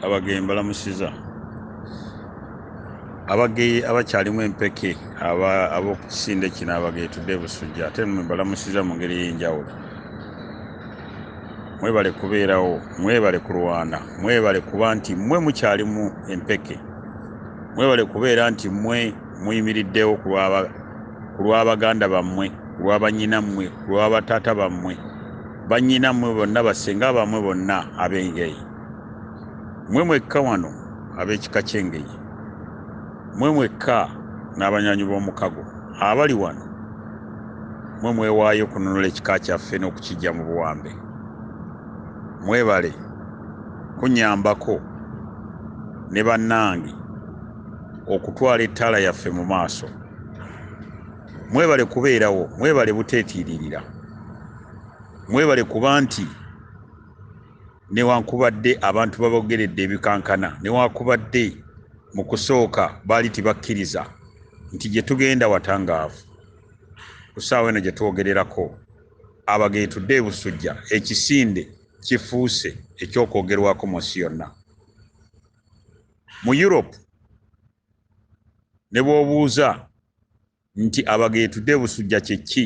abageye mbalamusiza abageye abakyalimu empeke ab'okukisinde kino abageye tudde busujja ate mwe mbalamusiza mu ngeri ey'enjawulo mwebale kubeerawo mwebale kulwana mwebale kuba nti mwe mukyalimu empeke mwebale kubeera nti mwe muyimiriddewo ku lw'abaganda bammwe ku lw'abanyinammwe ku lw'abataata bammwe banyinammwe bonna basenga bammwe bonna ab'engeye mwe mwekka wano ab'ekika ky'Engeye, mwe mwekka n'abanywanyi b'omukago abali wano, mwe mwewaayo okununula ekika kyaffe n'okukiggya mu buwambe. Mwebale kunnyambako ne bannange okutwala ettaala yaffe mu maaso. Mwebale kubeerawo, mwebale buteetiiririra, mwebale kuba nti. newankubadde abantu babogeredde ebikankana newankubadde mu kusooka baali tibakkiriza nti gye tugenda watangaavu ku ssaawa eno gye twogererako abageetudde e Busujja ekisinde kifuuse eky'okwogerwako mu nsi yonna mu Europe ne bw'obuuza nti abageetudde e Busujja kye ki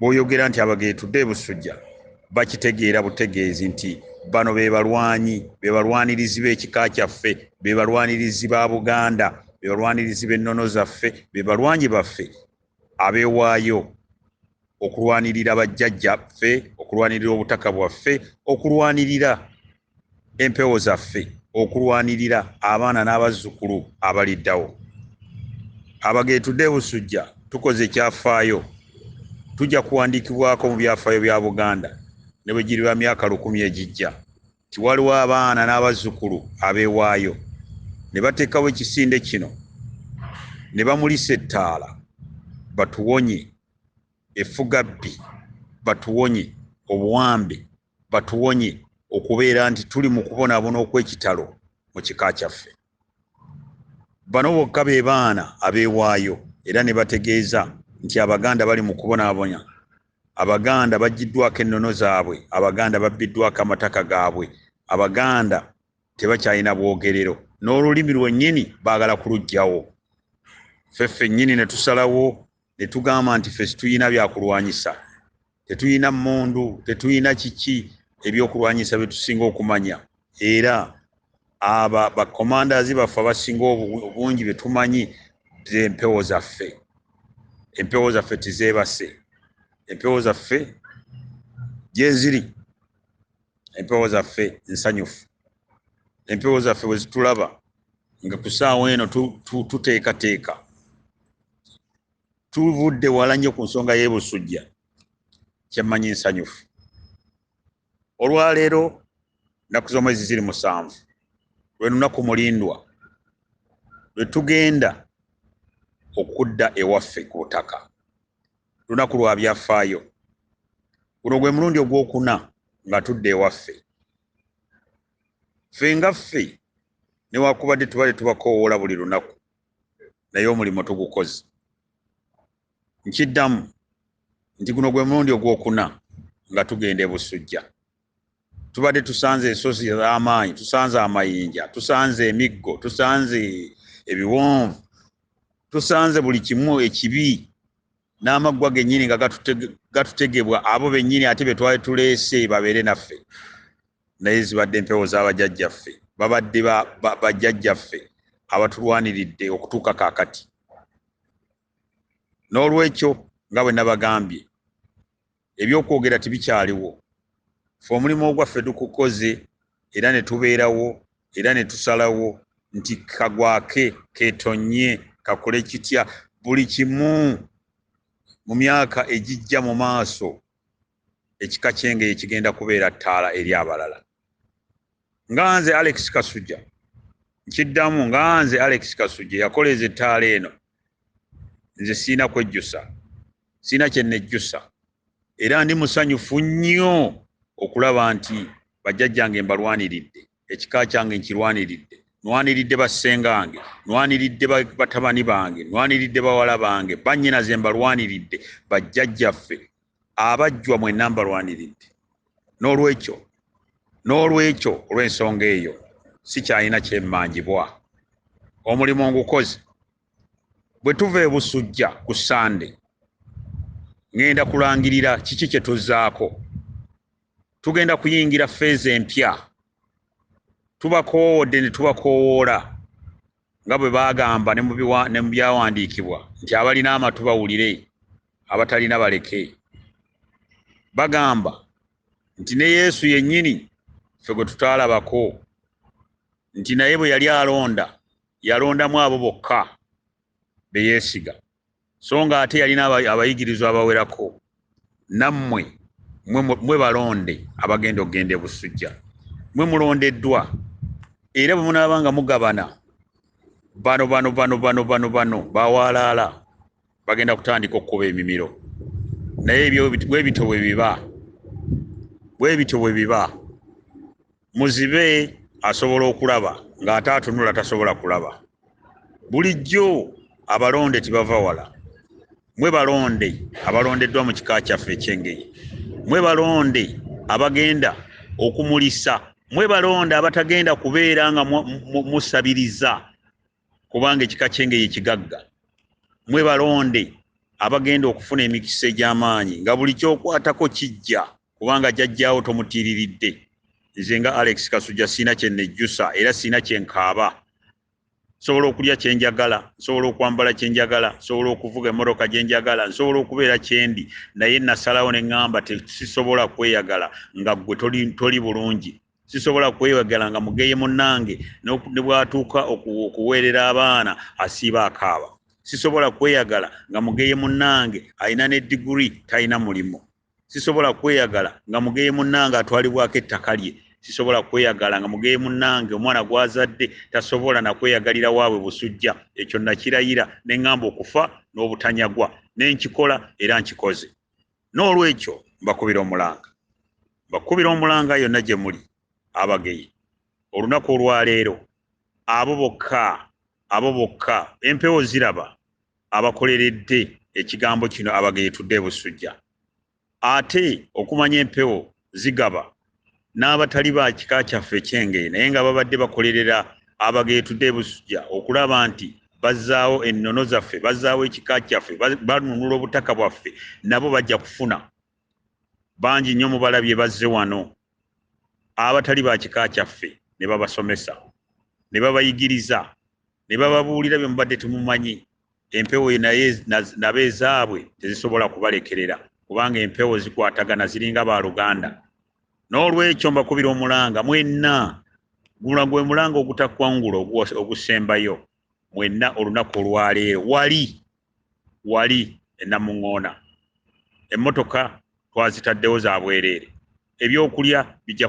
bwoyogera nti abageetudde ebusujja bakitegeera butegeezi nti bano bebalwanyi bebalwanirizi b'ekika kyaffe bebalwanirizi ba buganda bebalwanirizi b'ennono zaffe bebalwanyi baffe abewaayo okulwanirira bajjajja ffe okulwanirira obutaka bwaffe okulwanirira empewo zaffe okulwanirira abaana n'abazzukulu abaliddawo abageetudde busujja tukoze ekyafaayo tujja kuwandiikibwako mu byafaayo bya buganda ne bwe giriba myaka lukumi egijja nti waliwo abaana n'abazzukulu abeewaayo ne bateekawo ekisinde kino ne bamulisa ettaala batuwonye effugabbi batuwonye obuwambe batuwonye okubeera nti tuli mu kubonaabona okw'ekitalo mu kika kyaffe. Bano bokka be baana abeewaayo era ne bategeeza nti Abaganda bali mu kubonaabonya. Abaganda baggyiddwako ennono zaabwe, Abaganda babbiddwako amataka gaabwe, Abaganda tebakyalina bwogerero n'olulimi lwennyini baagala kuluggyawo. Ffe ffennyini ne tusalawo ne tugamba nti ffe situlina byakulwanyisa. Tetuyina mmundu, tetuyina kiki, ebyokulwanyisa bye tusinga okumanya. Era abo bakomandaazi baffe abasinga obungi be tumanyi ze mpewo zaffe. Empewo zaffe tizeebase. Empewo zaffe gyeziri. Empewo zaffe nsanyufu. Empewo zaffe bwe zitulaba nga ku ssaawa eno tuteekateeka tuvudde wala nnyo ku nsonga y'ebusujja kyemmanyi nsanyufu olwaleero nnaku z'omwezi ziri musanvu lwe lunaku mulindwa lwe tugenda okudda ewaffe ku butaka lunaku lwa byafaayo guno gwe mulundi ogwokuna nga tudde ewaffe ffe nga ffe newakubadde tubadde tubakoowoola buli lunaku naye omulimu tugukoze nkiddamu nti guno gwe mulundi ogwokuna nga tugenda ebusujja tubadde tusanze ensozi z'amaanyi tusanze amayinja tusanze emiggo tusanze ebiwonvu tusanze buli kimu ekibi n'amaggwa gennyini nga gatutegebwa abo bennyini ate be twali tuleese babeere naffe naye zibadde mpewo zabajajjaffe babadde bajajjaffe abatulwaniridde okutuuka kakati n'olwekyo nga bwe nabagambye ebyokwogera tibikyaliwo fe omulimu ogwaffe tukukoze era ne tubeerawo era ne tusalawo nti kagwake ketonye kakole kitya buli kimu mu myaka egijja mu maaso ekika ky'engeye kigenda kubeera ttaala eri abalala nga nze alex kasujja nkiddamu nga nze alex kasujja yakoleeza ettaala eno nze sirina kwejjusa sirina kye nejjusa era ndi musanyufu nnyo okulaba nti bajjajjange mbalwaniridde ekika kyange nkirwaniridde nwaniridde bassengange nwaniridde batabani bange nwaniridde bawala bange bannyina ze mbalwaniridde bajjajjaffe abajjwa mwenna mbalwaniridde n'olwekyo n'olwekyo olw'ensonga eyo sikyalina kyemmanjibwa omulimu ngukoze bwe tuva ebusujja ku sande ŋŋenda kulangirira kiki kye tuzzaako tugenda kuyingira feeza empya tubakoowodde ne tubakoowoola nga bwe baagamba ne mu byawandiikibwa nti abalina amatu bawulire abatalina baleke bagamba nti ne yesu yennyini ffe gwe tutaalabako nti naye bwe yali alonda yalondamu abo bokka be yeesiga so nga ate yalina abayigirizwa abawerako nammwe mwe balonde abagenda okugenda ebusujja mwe mulondeddwa era bwe munaaba nga mugabana bano bano bano bano bano bano bawaalaala bagenda kutandika okukuba emimiro naye ebyo bwebityo bwe biba bwebityo bwe biba muzibe asobola okulaba ng'ate atunula tasobola kulaba bulijjo abalonde tibava wala mwe balonde abalondeddwa mu kika kyaffe ekyengeye mwe balonde abagenda okumulisa mwe balonde abatagenda kubeera nga musabiriza kubanga ekika kyengeye kigagga mwe balonde abagenda okufuna emikisa egy'amaanyi nga buli kyokwatako kijja kubanga jajjaawo tomutiiriridde nze nga alex kasujja siina kye nejjusa era siina kye nkaaba nsobola okulya kye njagala nsobola okwambala kye njagala nsobola okuvuga emmotoka gye njagala nsobola okubeera kyendi naye nasalawo ne ŋŋamba sisobola kweyagala nga ggwe toli, toli bulungi sisobola kweyagala nga mugeye munnange ne bwatuuka okuweerera abaana asiiba akaaba sisobola kweyagala nga mugeye munnange alina ne diguri talina mulimu sisobola kweyagala nga mugeye munnange atwalibwako ettaka lye sisobola kweyagala nga mugeye munnange omwana gwazadde tasobola nakweyagalira waabwe busujja ekyo nakirayira ne ŋŋamba okufa n'obutanyagwa ne nkikola era nkikoze n'olwekyo mbakubira omulanga mbakubira omulanga yonna gye muli abageye olunaku olwaleero abo bokka abo bokka empewo ziraba abakoleredde ekigambo kino abageetudde ebusujja ate okumanya empewo zigaba n'abatali ba kika kyaffe ekyenge naye nga babadde bakolerera abageetudde ebusujja okulaba nti bazzaawo ennono zaffe bazzaawo ekika kyaffe banunula obutaka bwaffe nabo bajja kufuna bangi nnyo mubalabye bazze wano abatali ba kika kyaffe ne babasomesa ne babayigiriza ne bababuulira bye mubadde temumanyi empewo naye nabo ezaabwe tezisobola kubalekerera kubanga empewo zikwatagana ziringa ba luganda n'olwekyo mbakubira omulanga mwenna gula gwe mulanga ogutakwangula ogusembayo mwenna olunaku olwaleero wali wali enamuŋoona emmotoka twazitaddewo za bwereere ebyokulya bijja